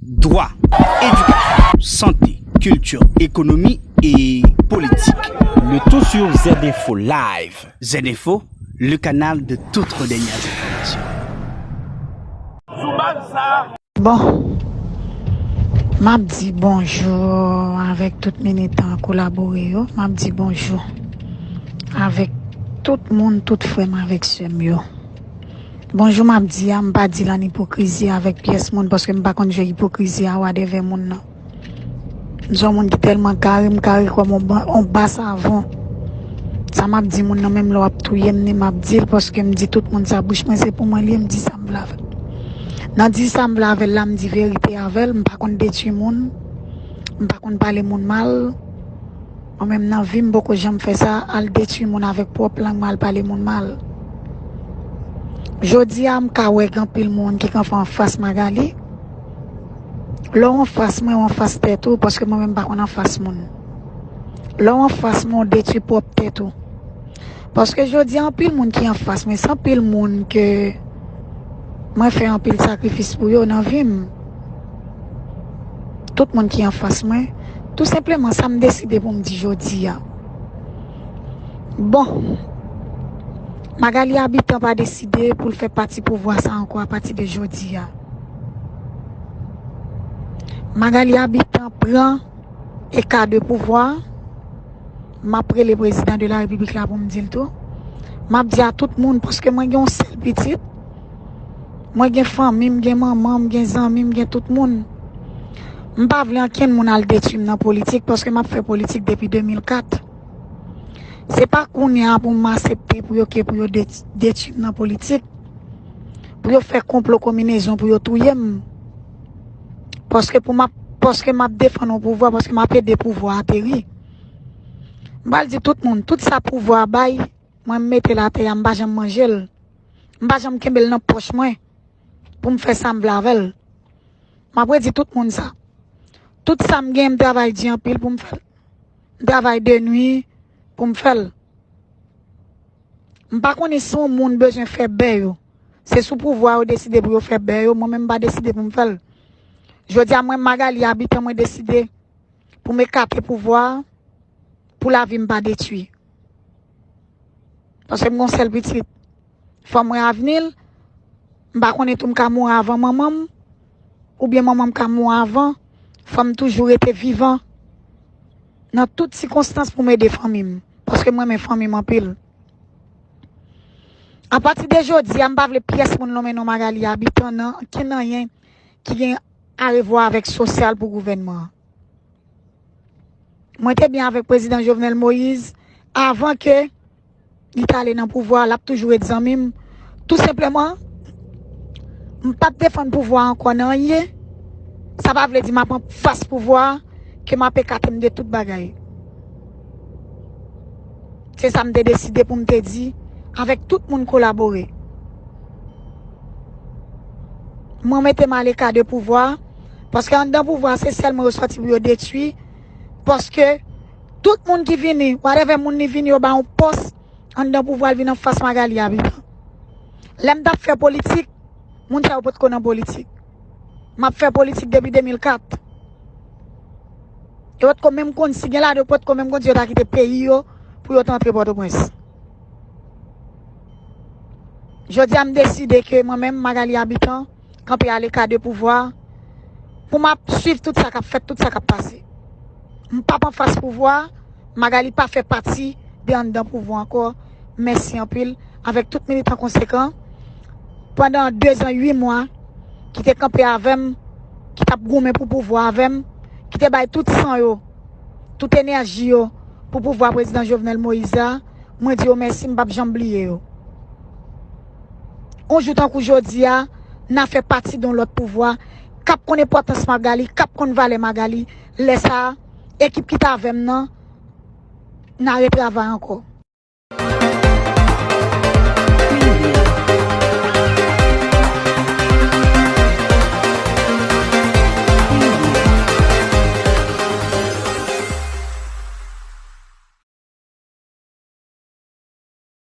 Dwa, edikasyon, sante, kilti, ekonomi e politik. Le tout sur ZInfo Live. ZInfo, le canal de toutes vos dernières informations. Sou baz sa a. Bon, m ap di bonjou avèk tout militan kolabore yo, m ap di bonjou avèk tout moun, tout frè m avèk sè m yo. Bonjou map di a mpa dil an ipokrizi avèk pyès moun paske mpa konn je ipokrizi a wadèvè moun nan mse yon moun ki tèlman kare mkare kòm yon ba savon sa map di moun nan menm lè wap touyem ni map dil paske mdi tout moun sa bouch mwen se pou mwen liye mdi sam vle avèl nan di sam vle avèl la mdi verite avèl mpa konn detwi moun mpa konn pale moun mal. Mwen menm nan vim m poko janm fè sa al detwi moun avèk pwòp lang mwen al pale moun mal jodia m ka wè gen anpil moun ki kanpe anfas Magalie lè w anfas mwen w anfas tèt ou paske mwen menm m pa konn anfas moun lè w anfas mwen w detwi pwòp tèt ou paske jodia anpil moun ki anfas mwen se anpil moun ke mwen fè anpil sakrifis pou yo nan vim. Tout moun ki anfas mwen, tou senpleman sa m deside pou m di jodi a. Bon, Magali Habitant pa deside pou l fè pati pouvwa sa ankò apati de jodi a. Magali Habitant pran eka de pouvwa, m ap rele prezidan de la repiblik la pou m di l tou. M ap di a tout moun paske mwen gen yon sèl pitit. Mwen gen fanmi m, gen manman m, gen zanmi m, gen tout moun. M pa vle ankenn moun al detwi m nan politik paske m ap fè politik depi 2004. Se pa kounye a pou m asepte pou yo ke pou yo detwi m nan politik, pou yo fè konplo konminezon pou yo touye m. Paske pou m ap, paske m ap defann yon pouvwa, paske m ap ede pouvwa a teri. M pral di tout moun, tout sa pouvwa a bay, mwen m mete l atè a, m pa janm manje l. M pa janm kenbe l nan pòch mwen pou m fè sa m vle avè l. M ap redi tout moun sa. Tout sa m genyen m travay di anpil pou m fè l. M travay de nui pou m fè l. M pa konnen si yon moun bezwen fè bè yo. Se sou pouvwa yo deside pou yo fè bè yo, mwen menm m pa deside pou m fè l. Jodi a mwen Magalie Habitant mwen deside pou m ekate pouvwa pou lavi m pa detui. Paske m gon sèl pitit. Fò m wè avni l. M pa konnen tou m ka mouri avan manman m. Oubyen manman m ka mouri avan. Fò m toujou rete vivan. Nan tout sikonstans pou m ede fanmi m. Paske m renmen fanmi m anpil. Apati de jodi a m pa vle pyès moun lonmen non Magalie Habitant nan ankenn anyen ki gen arevwa avèk sosyal pou gouvènman an. Mwen te byen avèk prezidan Jovenel Moïse avan ke li ta ale nan pouvwa, l ap toujou ret zanmi m. Tou senpleman, m pa p defann pouvwa ankò nan anyen. Sa pa vle di m ap anfas pouvwa, ke m ap ekate m de tout bagay. Se sa m te deside pou m te di avèk tout moun kolabore. Mwen mete m aleka de pouvwa. Paske anndan pouvwa a se sèlman yo sòti pou yo detui, paske tout moun ki vini, whatever moun li vini yo ba yon pòs anndan pouvwa li vin anfas Magalie a vivan. Lè m t ap fè politik, moun sa yo pot ko nan politik. M ap fè politik depi 2004. Yo pot ko menm konn, si gen ladan yo pot ko menm konn si yo ta kite peyi yo pou yo t antre Pòtoprens. Jodi a m deside ke mwen menm Magalie Habitant, kanpe aleka de pouvwa, pou m ap swiv tout sa k ap fèt, tout sa k ap pase. M pap anfas pouvwa, Magali pa fè pati de anndan pouvwa ankò. Mèsi anpil avèk tout militan konsekan pandan 2 zan 8 mwa ki te kanpe avè m, ki t ap goumen pou pouvwa avè m, ki te bay tout san yo, tout enèji yo pou pouvwa Prezidan Jovenel Moïse la. Mwen di yo mèsi, m pap janm bliye yo. On jou tankou jodi a, n'a fè pati don lòt pouvwa k'ap konn enpòtans Magali, k'ap konn valè Magali. Lè sa a, ekip ki t avè m nan, n'a retravay ankò.